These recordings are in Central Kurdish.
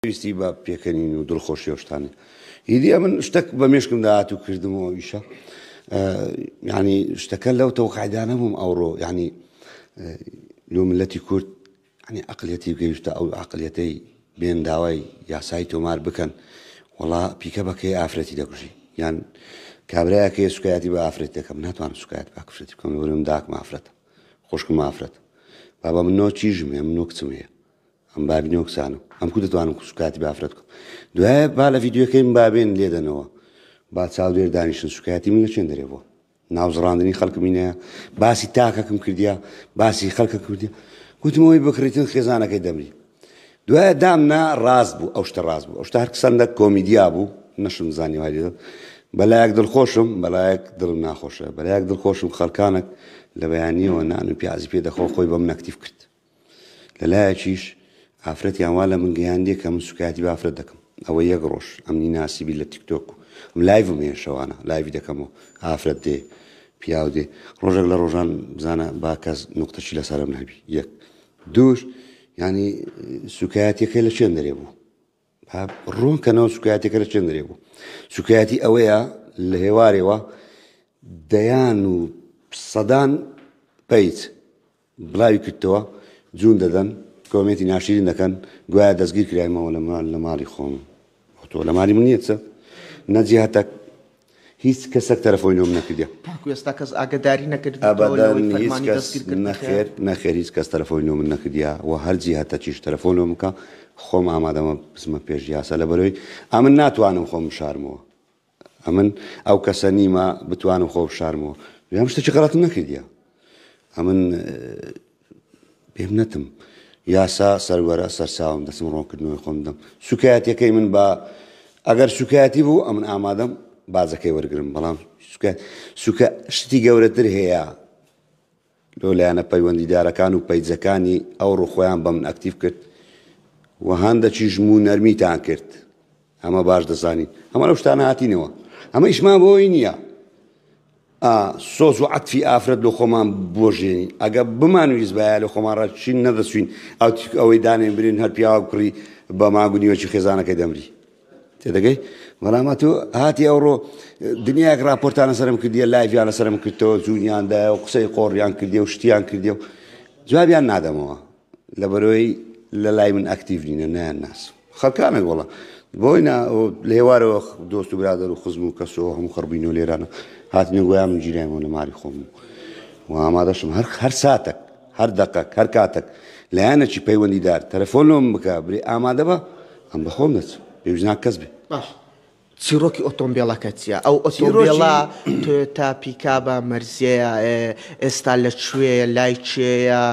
پێویستی بە پێکەنین و دڵخۆشی شتانە ئیدی ئەمن شتەک بە مێشکم داهات و کردمەوە ئیشە ینی شتەکە لەو تەوقعدانە بووم ئەوڕۆ ینی لۆ ملەتی کورد ئەنی ئەقلەتی گەیشتە ئەو عقلەتەی بێن داوای یاسایی تۆمار بکەن وڵا پیکە بەکەی ئافرەتی دەکوژی یان کابراەکەی سوکایەتی بە ئافرەت دەکەم ناتوان سوکایەت باکوشێتی بکەم لەورم داک مافرەت خوشکم مافرەت بابا من نۆ چیژم هەم نۆ کچم هەیە ئەم بابی نۆکسانم ئەم کو دەتوانم خوش کاتی بافرەت بکەم دوایە با لە ڤیددیوەکەیم بابێن لێدەنەوە با چاودێر دانیشتن سوکایەتی من لە چێن دەرێ بۆ ناوزڕاندنی خەڵکمینە باسی تاکەکم کردیا باسی خەڵکە کردی گوتمەوەی بکڕیتن خێزانەکەی دەمری دوایە دامنا ڕاست بوو ئەو شتە ڕاست بوو ئەو شتار قسەندە کۆمیدیا بوو نەشم زانی وایە بەلایەک دڵخۆشم بەلایەک دڵم ناخۆشە بەلایەک دڵخۆشم خەڵکانك لە بەیانیەوە نان و پیازی پێ دەخۆ خۆی بەم نەکتیف کرد لە لایەکیش ئافرەتیان وا لە من گەیاندیە کە من سوکایەتی بە ئافرەت دەکەم ئەوە یەک ڕۆژ ئەمنی ناسیبی لە تیکتۆک و ئەم لایڤم هەیە شەوانە لایوی دەکەمەوە ئافرەت دێ پیاو دێ ڕۆژێک لە ڕۆژان بزانە با کەس نقطەشی لەسەرم نەبی یەک دووش ینی سوکایەتەکە لە چێن دەرێ بوو ڕوون کەنەوە سوکایەتەکە لە چێن دەرێ بوو سوکایەتی ئەوەیە لە هێوارەوە دەیان و سەدان پیت بڵاوی کردتەوە جون دەدەن کۆمێنتی ناشیرین دەکەن گوایە دەستگیر کراین مەوە لە مال لە ماڵی خۆم تۆ لە مالی من نیە چە نەجیهتەک هیچ کەسەک تەرەفۆی لۆم نەکردە تاکو ئێستا کەس ئاگداری نەکرد نەخێر نەخێر هیچ کەس تەرەفۆی لۆ من نەکردیا و هەرجی هەتە چیش تەرەفۆن لۆ بکە خۆم ئامادەمە بسمە پێش یاسا لە بەرەوەی ئەمن ناتوانم خۆم شارمەوە ئەمن ئەو کەسە نیمە بتوانم خۆ بشارمەوە یان شتێکی غەڵەتم نەکردە ئەمن پێم نەتم یاسا سەروەرە سەرساوم دەسم ڕۆنکردنەوەی خۆم دەم سوکایەتەکەی من بە ئەگەر سوکایەتی بوو ئەمن ئامادەم بازەکەی وەرگرم بەڵام سوکە شتی گەورەتر هەیە لۆ لایەنە پەیوەندیدارەکان و پەیجەکانی ئەو ڕوخۆیان بە من ئەکتیڤ کرد و هەندەکیش موو نەرمیتان کرد ئەمە باش دەزانین ئەمە لەو شتانە هاتینەوە ئەمە ئیشمان بۆی نییە سۆز و عەتفی ئافرەت لە خۆمان بۆژێنی ئەگە بمان ویست بایە لە خۆمان ڕچین نەدەچوین ئەو ئەوەی دانێن برین هەر پیاوە کوڕی بە ماگونیوەکی خێزانەکەی دەمری تێدەگەی بەڵام ئەتوو هاتی ئەوڕۆ دنیاک راپۆرتانە سرم کردیە لایڤیانە سرم کردەوە جوونیاندایە و قسەی قۆڕیان کردی و شتیان کردی و جوابیان نادەمەوە لە بەرۆی لە لای من ئەکتیڤ نینە نیان ناس خەکانە گۆڵە بۆی لە هێوارەوە دۆست و برادر و خزم و کەسەوە هەموو خڕبین و لێرانە هاتنی گویان من گیرایەوە لە ماری خۆم و ئامادەشم هەر هەر ساتێک هەر دەقەک، هەر کاتەک لایەنەکی پەیوەندیدار تەلەفۆن لۆم بکا، برێ ئامادە بە، ئەم بە خۆم دەچم، پێویست ناکە کەس بێ. باشە چیڕۆکی ئۆتۆمبێڵەکە چییە؟ ئەو ئۆتۆمبێڵە تۆیۆتا پیکابە، مەرزێیە، ئێستا لە کوێیە، لای کێیە،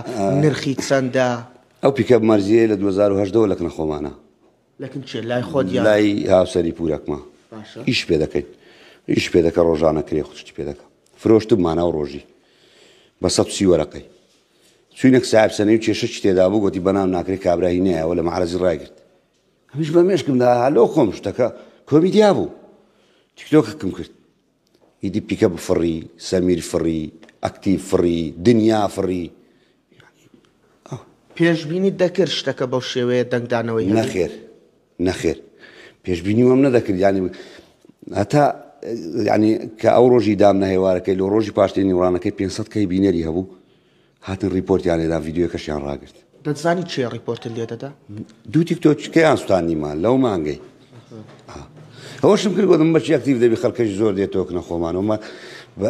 نرخی چەندە؟ ئەو پیکاب مەرزییەیە لە دوو هەزار و هەژدە وە لە کنە خۆمانە. لای هاوسەری پورەکمە ئیش پێ دەکەین ئیش پێ دەکە ڕۆژانە کرێ خوشتی پێ دەکە فرۆشتم ماناو ڕۆژی بە سە سی وەرەقەی چوینەک ساحب سەنەی و کێشە چی تێدا بوو گوتی بەنام ناکرێت کابراهی نایەوە لە مەعرەزی ڕایگرت هەمیش بە مێشکمدا هەلۆ خۆم شتەکە کۆمیدیا بوو تیکتۆکەکەم کرد ئیدی پیکەپ فڕی سەمیر فڕی ئەکتیڤ فڕی دنیا فڕی پێشبینیت دەکرد شتەکە بەو شێوەیە دەنگدانەوەی هەبێت؟ نەخێر نەخێر پێشبینی وەم نەدەکرد ینی هەتا ینی کە ئەو ڕۆژی دام نەهێوارەکەی لە ڕۆژی پاشتێنی وڕانەکەی 500 کەی بینەری هەبوو هاتن ڕیپۆرتیان لێدا ڤیدیۆیەکەشیان ڕاگرت. دەتزانی کێ ڕیپۆرتت لێ دەدا؟ دوو تیکتۆکیان سوتاندیمان لەو مانگەی ئەوەشم کرد گۆتم بەچی ئەکتیڤ دەبی خەڵکەش زۆر دێت تۆکنە خۆمانەوەمە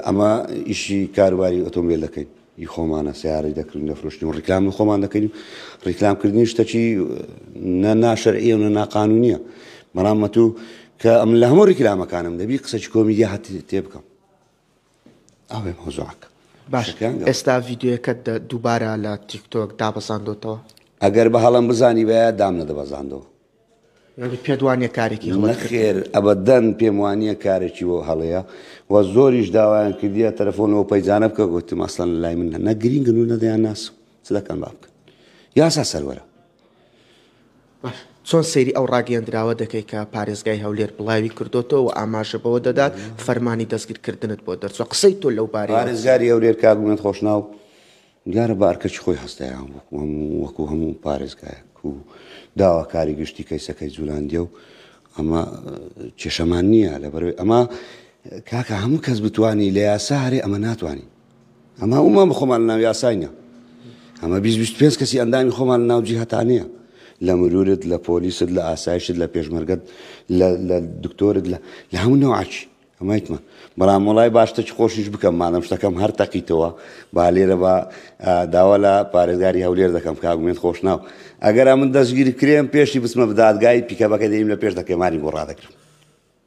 ئەمە ئیشی کاروباری ئۆتۆمبیل دەکەین ی خۆمانە سیارەی دەکردن دەفرۆشتن و ڕیکلام و خۆمان دەکەین ڕیکلامکردنی شتەکی نە ناشەرعیە و نە ناقانونیە بەڵام مەتوو کە ئەم لە هەموو ڕیکلامەکانم دەبی قسەی کۆمیدیا هەت تێ بکەم ئەوێ مۆزۆعەکە باش ئێستا ڤیددیوەکەت دووبارە لە تیکتۆک دابەزاندۆتەوە ئەگەر بە هەڵم بزانی بە دام لە دەبەزاندەوە پێدوانە کارێکی خێر ئەبدەن پێم وانە کارێکی بۆ هەڵەیە و زۆریش داوایان کردیە تەلەفۆنەوە پەیجانە بکە گوتم ئەسلان لای من نەگرین گەنو نەدەیان ناس چ دەکەن با بکەن یاسا سەروەرە چۆن سەیری ئەو ڕاگەیەندراوە دەکەی کە پارێزگای هەولێر بڵاوی کردۆتەوە و ئاماژە بەوە دەدات فەرمانی دەستگیرکردنت بۆ دەرچوە قسەی تۆ لەو بارەیە پارێزگاری هەولێر کاک مەمەد خۆشناو دیارە بە ئەرکەکی خۆی هەستایان وەکو هەموو وەکو هەموو پارێزگایەک و داواکاری گشتی کەیسەکەی جولاندیە و ئەمە کێشەمان نییە لەبەرەوەی ئەمە کاکە هەموو کەس بتانی لە یاسا هەرێ ئەمە ناتوانین ئەمە ئەومان بە خۆمان ناو یاسای نیە ئەمە بیست بیست پێنج کەسی ئەندامی خۆمان ناو جیهتانەیە لە مرورت لە پۆلیست لە ئاسایشت لە پێشمەرگەت لە دکتۆرت لە لە هەموو نەوعاچی ئەمایتمان بەڵام وڵای باشتە چ خۆشیش بکەم مادەم شتەکەم هەر تەقیتەوە با لێرە بە داوا لە پارێزگاری هەولێر دەکەم کاگومێن خۆش ناو ئەگەر من دەستگیری کرێم پێشی بچمە بدادگای پیکەبەکە دەیم لە پێش دەکەمانی بۆ ڕادەکرم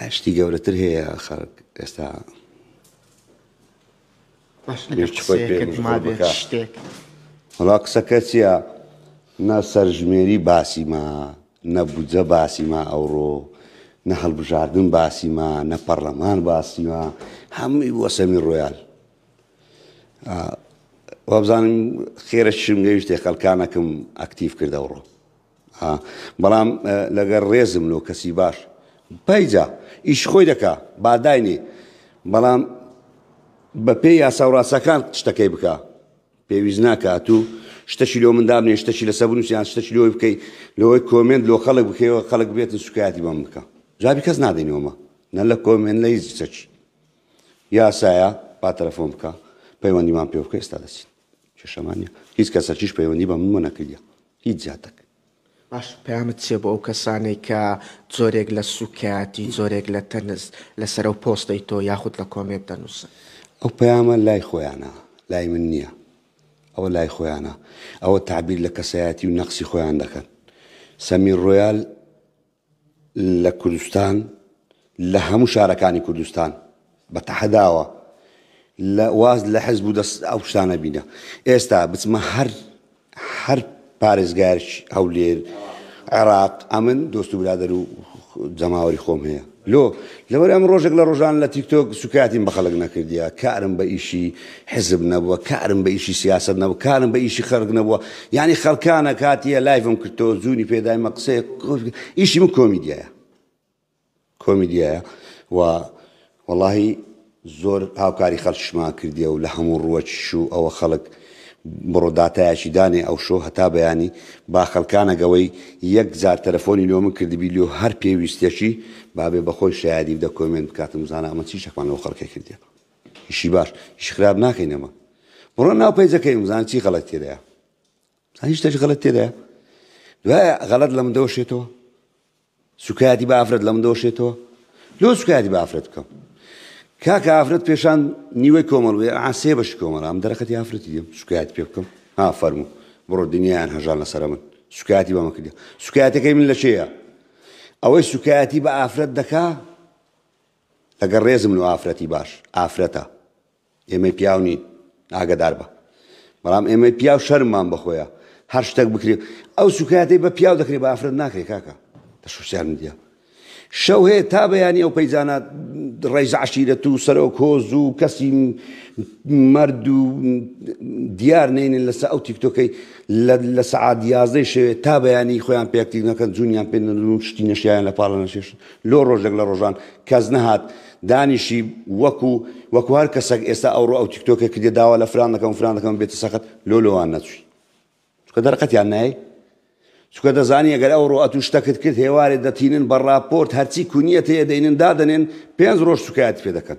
ئاشتی گەورەتر هەیە خەڵک ئێستا هەڵا قسەکە چییە نە سەرژمێری باسیما نە بودجە باسیما ئەوڕۆ نە هەڵبژاردن باسیما نە پەرلەمان باسیما هەمووی بۆ سەمی ڕۆیال وابزانم خێرە شم لێویشتێ خەلکانەکەم ئەکتیف کردەوڕۆ ها بەڵام لەگەر ڕێزم لۆ کەسی باش پەیجا ئیش خۆی دەکا باداینێ بەڵام بە پێی یاسا و ڕاستەکان شتەکەی بکە پێویست ناکات و شتەشی لۆ من دابنێ شتەشی لەسەر بنووسیان شتەشی لۆی بکەیت لەوەی کۆمنت لۆ خەڵک بکەیەوە خەڵک بێتن سوکایەتی بەم بکە جوابی کەس نادەینەوەمە نە لە کۆمێن لە هیچ چەچی یاسایە با تەلەفۆن بکە پەیوەندیمان پێ بکە ئێستا دەچین کێشەمان نیە هیچ کەسەکیش پەیوەندی بە منمە نەکردیە هیچ جاتەک. باش پەیامت چیە بۆ ئەو کەسانەی کە جۆرێک لە سوکایەتی جۆرێک لە تەنز لەسەر ئەو پۆستەی تۆ یاخود لە کۆمێنت دەنوسن؟ ئەو پەیامە لای خۆیانە لای من نیە ئەوە لای خۆیانە ئەوە تەعبیر لە کەسایەتی و نەقسی خۆیان دەکەن سەمیر ڕۆیال لە کوردستان لە هەموو شارەکانی کوردستان بە تەحەداوە لە واز لە حزب و دەست ئەو شتانە بینە ئێستا بچمە هەر هەر پارێزگارش هەولێر عێراق ئەمن دۆست و برادەر و جەماوەری خۆم هەیە لۆ لەوەر ئەم ڕۆژێک لە ڕۆژان لە تیکتۆک سوکاتیم بە خەڵک نەکردیە کارم بە ئیشی حزب نەبووە کارم بە ئیشی سیاسەت نەبوو کارم بە ئیشی خەرک نەبووە یعنی خەرکانە کاتیە لایڤم کردەوە زوونی پێدایمە قسەیە ئیشی من کۆمیدیایە کۆمیدیایە و وەڵی زۆر هاوکاری خەرشمان کردیە و لە هەموو ڕووەکیش و ئەوە خەڵک بڕۆداتایەکی دانێ ئەو شۆ هەتا بەیانی با خەلکانەگەوەی یەک جار تەلەفۆنی لۆ من کردبی لۆ هەر پێویستێکی بابێ بەخۆی شایدی بدە کۆمێن بکاتم زانە ئەمە چی شەکمان لەو خەڵکە کردێت ئیشی باش ئیش خراپ ناکەین ئەمە بڕۆ ناو پەیجەکەی بزان چی غەڵەت تێدایە هیچ تەش غەڵەت تێدایە دوایە غەڵەت لە من دەوەشێتەوە سوکایەتی بە ئافرەت لە من دەوەشێتەوە لۆ سوکایەتی بە ئافرەت بکەم کاکە ئافرەت پێشان نیوەی کۆمەڵ بێ ئاسێ بەش کۆمەڵام دەرەقەتی ئافرەتی دێم سوکایەت پێ بکەم ها فەرموو بڕۆ دنیایان هەژان لەسەر من سوکایەتی بەمە کردی سوکایەتەکەی من لە چێە ئەوەی سوکایەتی بە ئافرەت دەکا لەگەڵ ڕێزم لۆ ئافرەتی باش ئافرەتە ئێمەی پیاو نین ئاگەدار بە بەڵام ئێمەی پیاو شەرممان بەخۆیە هەر شتێک بکرێت ئەو سوکایەتی بە پیاو دەکرێت بە ئافرەت ناکرێت کاکە لە سوسیال میدیا شەو هەیە تا بەیانی ئەو پەیجانە ڕێز عشیرەت و سەرۆک هۆز و کەسی مرد و دیار نینن لەسە ئەو تیکتۆکەی لە سەعات یازدەی شەوێت تا بەیانی خۆیان پێکتیک نەکەن جوونیان پێ نەدون شتی نەشیان لە پاڵە نەشێشن لۆ ڕۆژێک لە ڕۆژان کەس نەهات دانیشی وەکو وەکو هەر کەسەک ئێستا ئەوڕۆ ئەو تیکتۆکە کردێ داوا لە فران دەکەم فران دەکەم بێتە سەخت لۆ لۆوان نەچووی چکە دەرقەتیان نای چکە دەزانی ئەگەر ئەو ڕۆئەت و شتەکت کرد هێوارێ دەتینن بە ڕاپۆرت هەرچی کونیەت هەیە دەینن دادەنێن پێنج ڕۆژ سوکایەت پێ دەکەن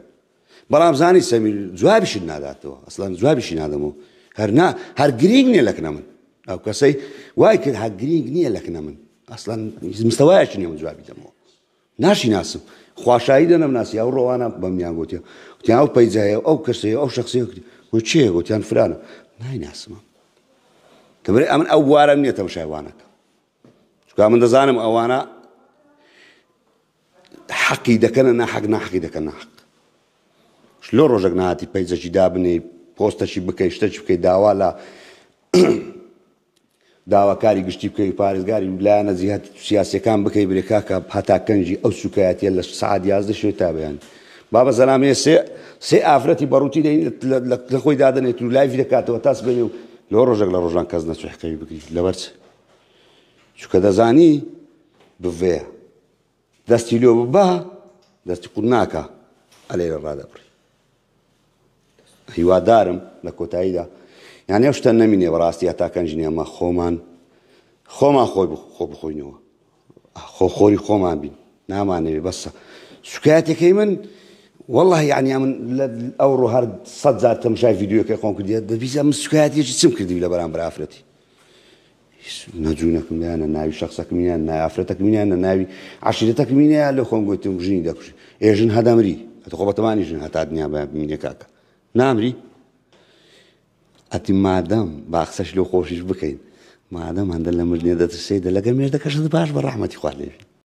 بەڵام زانی سەمیر جوابیشت ناداتەوە ئەسلان جوابیشی نادەمەوە هەرنا هەر گرینگ نییە لەکنە من ئەو کەسەی وای کرد هەر گرینگ نییە لەکنە من ئەسلان مستەوایەکی نیە من جوابی دەمەوە ناشی ناسم خواشایی دەنم ناسی ئەو ڕۆوانە بەمیان گوتیان وتیان ئەو پەیجایە ئەو کەسەیە ئەو شخصی کرد و چێ گوتیان فرانە نایناسمە دەبێ ئەمن ئەو بوارم نییە تەمشایوانەکە چکا من دەزانم ئەوانە حەقی دەکەنە ناحەق ناحەقی دەکەن ناحەق لۆ ڕۆژێک ناتی پەیجەکی دابنێی پۆستەکی بکەی شتەکی بکەی داوا لە داواکاری گشتی بکەی پارێزگاری لایەنە جیهات سیاسەکان بکەی برێ کاکە هەتا کەنجی ئەو سوکایەتە لە سعات یازدە شوێ تا بەیان بابە زەلامێ سێ سێ ئافرەتی بەڕووتی لە خۆی دادنێت و لایفی دەکاتەوە تاس بێنێ و لۆ ڕۆژێک لە ڕۆژان کەس نەچحقەوی بگریت لەبەرچ چکە دەزانی بڤەیە دەستی لۆ ببا دەستی قوت ناکا ئەلێ لە ڕادەبڕی هیوادارم لە کۆتاییدا یانێ شتە نەمینێ بەڕاستی هەتاکەن ژنیانمە خۆمان خۆمان خۆی خۆ بخۆینەوە خۆ خۆری خۆمان بین نامانەوێ بەسە شکایەتەکەی من والله یعنی من ئەو ڕۆ هەر سەد جار تەمشای یددیوەکەی خۆم کردە دەبیزە من شکایەتێکی چم کردی لە بەرام برافرەتی هیچ نە جوونەکم لێیە نە ناوی شەخسەکمی نیە نە ئافرەتەکمی نیە نە ناوی عەشیرەتەکمی نیە لێ خۆم گوتم ژنی دەکوژی ئێ ژن هەدەمری ئەتە خۆ بەتەمانی ژن هەتا دنیا بە بمینێ کاکە نامری ئەتی مادەم باخسەش لەو خۆشیش بکەین مادەم هەندە لە مردێ دەترسێ دە لەگە مێردەکەشت باش بە ڕەحمەتی خوارد لێژن